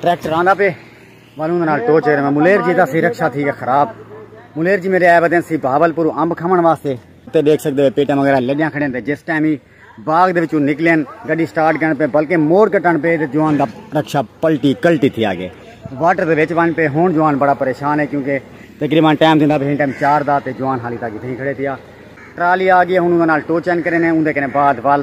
Tractor آندا پے والوں نال ٹو چیرے میں ملیر جی دا سی رکشا تھی گیا خراب ملیر جی میرے آئے بدن سی بہاول پور امب کھمن واسطے تے دیکھ سکتے ہو پیٹا وغیرہ لگیاں کھڑے ہیں جس ٹائم ہی باغ دے وچوں نکلے ہیں گڈی سٹارٹ کرن پہ بلکہ موڑ کٹن پہ جوان دا رکشا پلٹی کلٹی تھی آگے واٹر دے وچ وان پہ ہون جوان بڑا پریشان ہے کیونکہ تقریبا ٹائم دیندا پہ ٹائم چار دا تے جوان حالی تاکہ تھی کھڑے تھیا ٹرالی آ گئی ہن انہاں نال ٹو چین کرے نے اوندے کنے بعد وال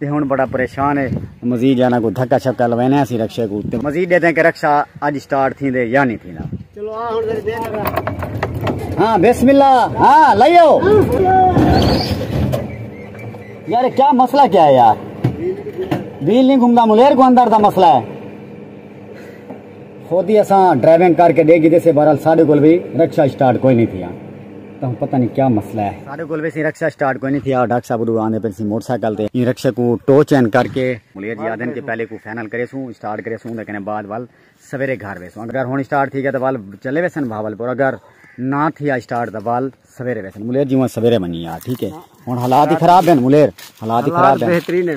تے ہن بڑا پریشان ہے۔ مزید جانا کو دھکا شکا لوینے ہاسی رکشے کو تے مزید ڈیتے کہ رکشا اج سٹارٹ تھی دے یا نہیں تھی نا چلو آ ہن دے ہاں بسم اللہ ہاں لائیو یار کیا مسئلہ کیا ہے یار ویل نہیں گھومدا ملیر کو اندر دا مسئلہ ہے خود ہی اساں ڈرائیونگ کر کے دے گی دے سے بہرحال ساڈے کول بھی رکشا سٹارٹ کوئی نہیں تھیا تہوں پتہ نہیں کیا مسئلہ ہے۔ ساڈے کول ویسے رکشہ سٹارٹ کوئی نہیں تھیا ڈاکٹر صاحب اڈو آندے پے سی موٹر سائیکل تے ایں رکشے کوں ٹو چین کر کے۔ ملیر جی آدھن کہ پہلے کو فائنل کریسوں اسٹارٹ کریسوں اوندے کنے بعد ول سویرے گھر ویسوں اگر ہن اسٹارٹ تھی گیا تاں ول چلے ویسن بھاولپور اگر نہ تھیا اسٹارٹ تاں ول سویرے ویسن ملیر جی اوہ سویرے ونجی یار ٹھیک ہے ہن حالات ہی خراب ہیں ملیر حالات ہی خراب ہیں۔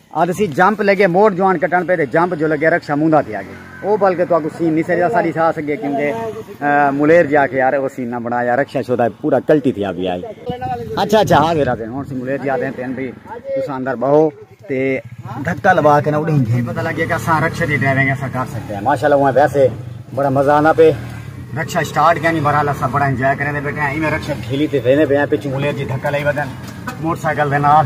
اد سی جمپ لگے موڈ جوان کٹن پہ تے جمپ جو لگے رکشا موندا تھی آگے او بل کے تو اگو سین نہیں سجا ساری سا سگے کیوں دے ملیر جا کے یار او سین نہ بنا یا رکشا شودا پورا کلٹی تھی ابھی آئی اچھا اچھا ہاں ویرا دے ہن سی ملیر جا دے تین بھی تو ساندر بہو تے دھکا لوا کے نہ اڑی جی پتہ لگے کہ سا رکشا دی ڈرائیونگ ایسا کر سکتے ہیں ماشاءاللہ وہ ویسے بڑا مزہ آنا پہ رکشا سٹارٹ کیا نہیں بھرا لسا بڑا انجوائے کرنے دے بیٹھے ہیں ایویں رکشا کھیلی تے وینے پہ ہیں پچھو ملیر جی دھکا لئی بدن موٹر سائیکل دے نال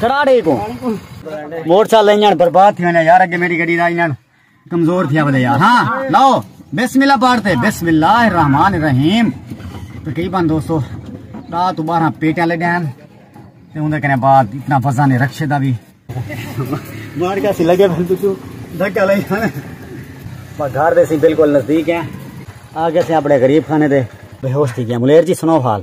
کراڑے کو موٹر سائیکل انجن برباد تھی وینے یار اگے میری گڑی دا انجن کمزور تھیا ولے یار ہاں لاؤ بسم اللہ پڑھتے بسم اللہ الرحمن الرحیم تقریبا دوستو دا تو بارہ پیٹیاں لے دین تے اوندے کنے بعد اتنا وزن نہیں رکھے دا بھی مار کا سی لگے بھل تو دھکا لے ہن با گھر دے سی بالکل نزدیک ہیں آگے سے اپنے غریب خانے دے بے ہوش تھی گیا ملیر جی سنو حال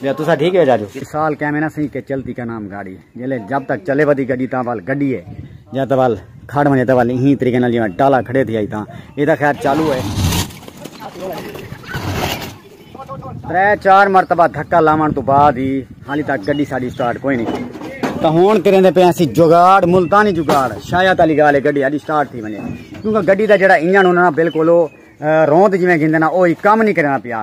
بیا تسا ٹھیک ہے جاجو سال کہہ مینا سی کہ چلتی کا نام گاڑی جلے جب تک چلے ودی گڈی تاں وال گڈی ہے جا تاں وال کھڑ منے تاں وال ہی طریقے نال جویں ڈالا کھڑے تھی آئی تاں اے تاں خیر چالو ہے ترے چار مرتبہ دھکا لاون تو بعد ہی حالی تک گڈی ساڈی سٹارٹ کوئی نہیں تاں ہن کریندے پے اسی جگاڑ ملتانی جگاڑ شاید علی گالے گڈی ساڈی سٹارٹ تھی منے کیونکہ گڈی دا جڑا انجن ہونا بالکل رون تے جویں گھندے نا اوہی کم نہیں کرنا پیا